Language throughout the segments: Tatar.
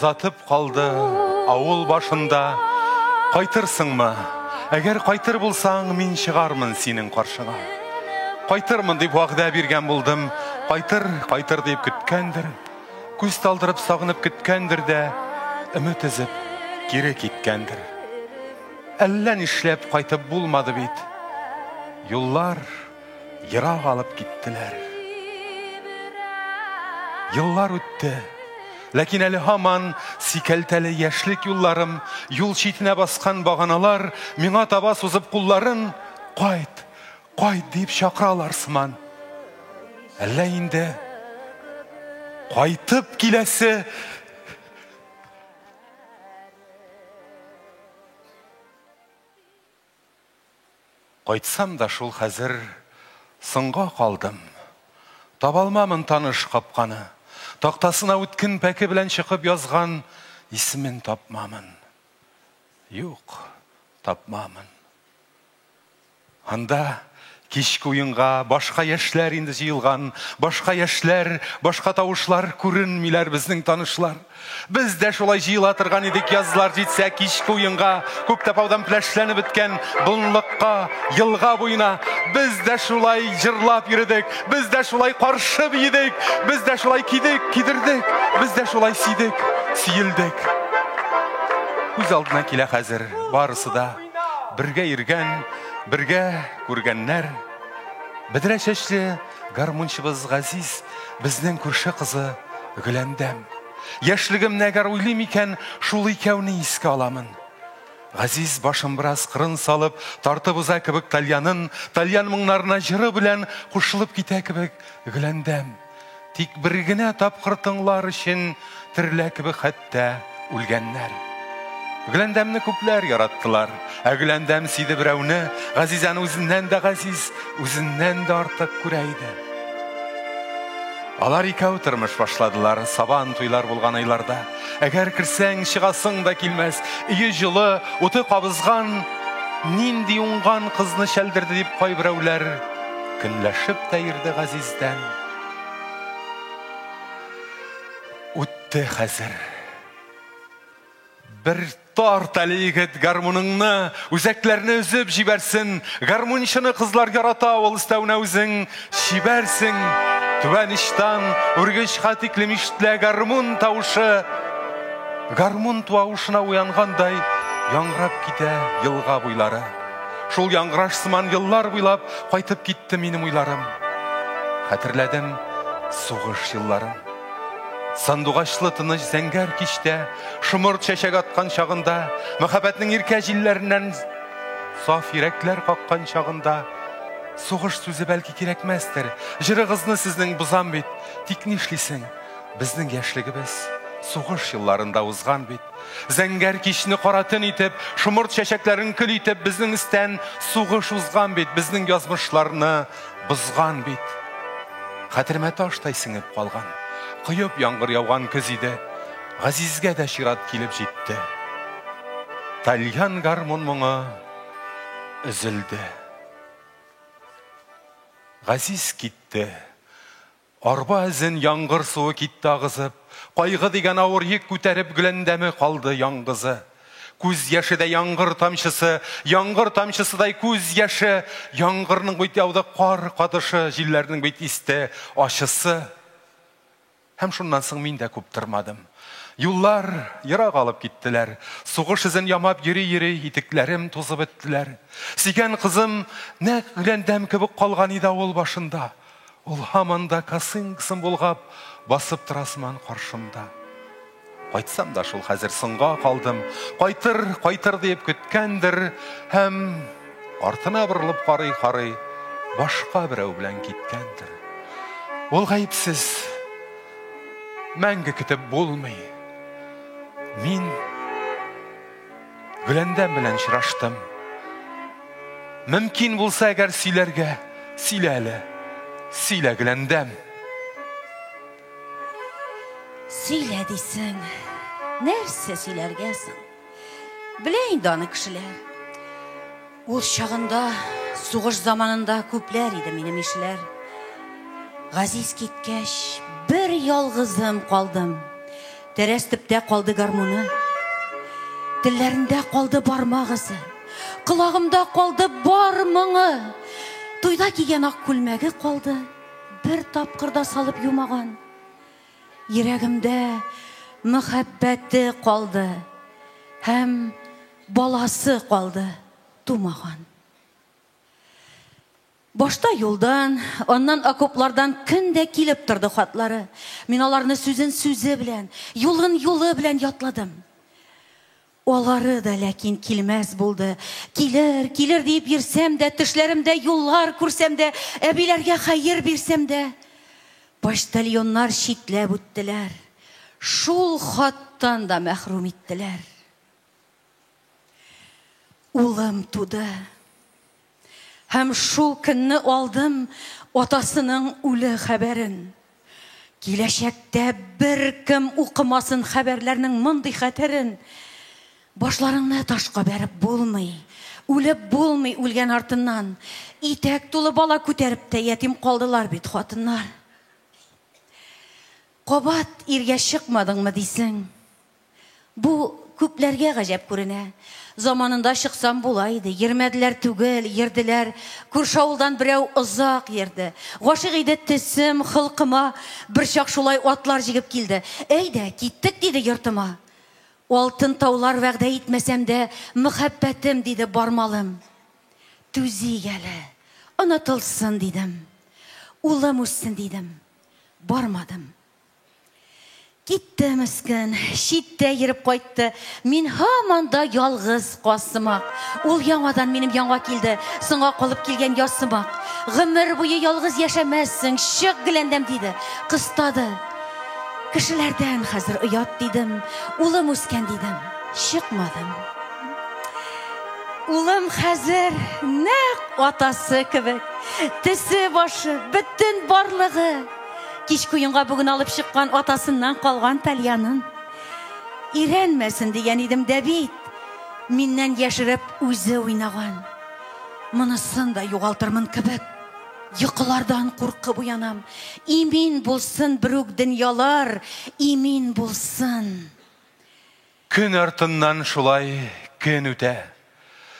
Затып калды авыл башында. Кайтырсыңмы? Әгәр кайтыр булсаң, мин чыгармын синең каршыңа. Кайтырмын дип вәгъдә биргән булдым. Кайтыр, кайтыр дип көткәндер. Күз талдырып сагынып көткәндер дә, өмет өзеп кире киткәндер. Әллә нишләп кайтып булмады бит. Юллар Ерак алып киттеләр. Еллар үтте. Ләкин әле һаман сикәлтәле яшьлек юлларым, юл читенә баскан баганалар миңа таба сузып кулларын кайт, кайт дип чакыралар сыман. Әллә инде кайтып киләсе Кайтсам да шул хәзер Соңга калдым. Табалмамын таныш капканы. Тактасына үткен пәке белән чыкып язган исемен тапмамын. Юк, тапмамын. Анда Кичке уенга башка яшьләр инде җыелган, башка яшьләр, башка тавышлар күренмиләр безнең танышлар. Без дә шулай җыела торган идек язлар җитсә кичке уенга, күп тапаудан пләшләнеп беткән болынлыкка, елга буена. Без дә шулай җырлап йөрдек, без дә шулай каршы биедек, без дә шулай кидек, кидердек, без дә шулай сидек, сиелдек. Күз алдына килә хәзер барысы да. Бергә иргән, бергә күргәннәр. Бедрә чәчле гармунчыбыз Газиз, безнең күрше кызы Гөләндәм. Яшьлегем нәгәр уйлыйм икән, шул икәүне искә аламын. Газиз башын бераз кырын салып, тартып уза кебек тальянын, тальян моңнарына җыры белән кушылып китә кебек Гөләндәм. Тик бер генә тапкыр тыңлар өчен терлә кебек хәтта үлгәннәр. Гөләндәмне күпләр яраттылар. Ә Гөләндәм сиде берәүне, Газизәне үзеннән дә газиз, үзеннән дә артык күрә иде. Алар икәү тормыш башладылар сабан туйлар булган айларда. Әгәр керсәң, чыгасың да килмәс. Өе җылы, уты кабызган, нинди уңган кызны чәлдерде дип кайберәүләр көнләшеп тә ирде Газиз Хәзрәттән үтте хәзер. Бер тарт әле егет гармуныңны, үзәкләрне өзеп җибәрсен. Гармунчыны кызлар ярата, ул өстәвенә үзең чибәрсең. Түбән иштан үргеч хатикле миштлә гармун тавышы. Гармун туавышына уянгандай яңгырап китә елга буйлары. Шул яңгыраш сыман еллар буйлап кайтып китте минем уйларым. Хәтерләдем сугыш елларын. Сандугачлы тыныч зәңгәр кичтә, шомырт чәчәк аткан чагында, мәхәббәтнең иркә җилләреннән саф йөрәкләр каккан чагында сугыш сүзе бәлки кирәкмәстер. Җырыгызны сезнең бозам бит. Тик нишлисең? Безнең яшьлегебез сугыш елларында узган бит. Зәңгәр кичне кара төн итеп, шомырт чәчәкләрен көл итеп, безнең истән сугыш узган бит, безнең язмышларны бозган бит. Хәтеремә таштай сеңеп калган, коеп яңгыр яуган көз иде. Газизгә дә чират килеп җитте. Тальян гармун моңы өзелде. Газиз китте. Арба эзен яңгыр суы китте агызып, Кайгы дигән авыр йөк күтәреп Гөләндәме калды яңгызы. Күз яше дә яңгыр тамчысы, Яңгыр тамчысыдай күз яше, Яңгырның бит яуды кар катышы, Җилләрнең бит исте ачысы. Һәм шуннан соң мин дә күп тормадым. Юллар ерак алып киттеләр. Сугыш эзен ямап йөри-йөри, итекләрем тузып беттеләр. Сөйгән кызым нәкъ гөләндәм кебек калган иде авыл башында. Ул һаман да косынкасын болгап басып тора сыман каршымда. Кайтсам да шул хәзер соңга калдым. Кайтыр, кайтыр диеп көткәндер һәм артына борылып карый-карый башка берәү белән киткәндер. Ул гаепсез. Мәңге көтеп булмый. Мин Гөләндәм белән очраштым. Мөмкин булса, әгәр сөйләргә, сөйлә әле. Сөйлә, Гөләндәм. Сөйлә дисең. Нәрсә сөйләргә соң? Белә инде аны кешеләр. Ул чагында, сугыш заманында күпләр иде минем ишләр. Газиз киткәч, бер ялгызым калдым. Тәрәз төптә калды гармуны. Телләрендә калды бармак эзе. Колагымда калды бар моңы. Туйда кигән ак күлмәге калды. Бер тапкырда салып юмаган. Йөрәгемдә мәхәббәте калды. Һәм Баласы калды тумаган. Башта юлдан, аннан окоплардан көн дә килеп торды хатлары. Мин аларны сүзен сүзе белән, юлын юлы белән ятладым. Алары да ләкин килмәс булды. Килер, килер диеп йөрсәм дә, төшләремдә юллар күрсәм дә, әбиләргә хәер бирсәм дә, почтальоннар читләп үттеләр. Шул хаттан да мәхрүм иттеләр. Улым туды. Һәм шул көнне алдым атасының үле хәбәрен. Киләчәктә бер кем укымасын хәбәрләрнең мондый хәтерен. Башларыңны ташка бәреп булмый. Үлеп булмый үлгән артыннан. Итәк тулы бала күтәреп тә ятим калдылар бит хатыннар. Кабат иргә чыкмадыңмы дисең? Бу күпләргә гаҗәп күренә. Заманында чыксам була иде. Йөрмәделәр түгел, йөрделәр. Күрше авылдан берәү озак йөрде. Гашыйк иде төсем, холкыма. Берчак шулай атлар җигеп килде. Әйдә, киттек, диде йортыма. Алтын таулар вәгъдә итмәсәм дә, мөхәббәтем, диде бармалым. Түзик әле, онытылсын, дидем. Улым үссен, дидем. Бармадым. Китте мескен, читтә йөреп кайтты. Мин һаман да ялгыз касымак. Ул яңадан минем яңа килде. Соңга калып килгән ясымак. Гомер буе ялгыз яшәмәссең, чык геләндәм диде. Кыстады. Кешеләрдән хәзер оят дидем. Улым үскән дидем. Чыкмадым. Улым хәзер нәк атасы кебек. Тесе башы, бөтен барлыгы. Кич куенга бүген алып чыккан атасыннан калган тальянын. Ирәнмәсен дигән идем дә бит. Миннән яшереп үзе уйнаган. Монысын да югалтырмын кебек. Йокылардан куркып уянам. Имин булсын берүк дөньялар, имин булсын. Көн артыннан шулай көн үтә.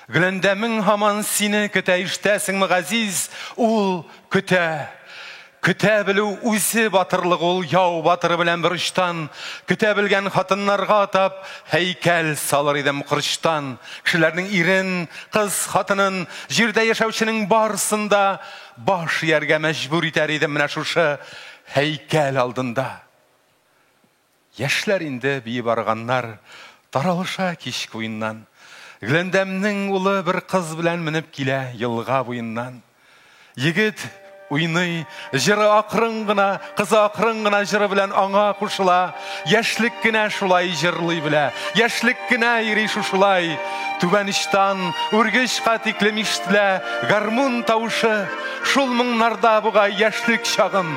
Гөләндәмең һаман сине көтә, ишетәсеңме, Газиз, ул көтә. Көтә белү үзе батырлык ул, яу батыры белән бер очтан, көтә белгән хатыннарга атап, һәйкәл салыр идем корчтан. Кешеләрнең ирен, кыз хатынын, җирдә яшәүченең барсын да баш ияргә мәҗбүр итәр идем менә шушы һәйкәл алдында. Яшьләр инде биеп арыганнар, Таралыша кич куеннан. Гләндәмнең улы бер кыз белән Менеп килә елга буеннан. Егет уйный, җыры акрын гына, Кызы акрын гына җыры белән аңа кушыла. Яшьлек кенә шулай җырлый белә, Яшьлек кенә йөри шушылай. Түбән очтан үргечкә тиклем ишетелә Гармун тавышы. Шул моңнарда бугай яшьлек чагым.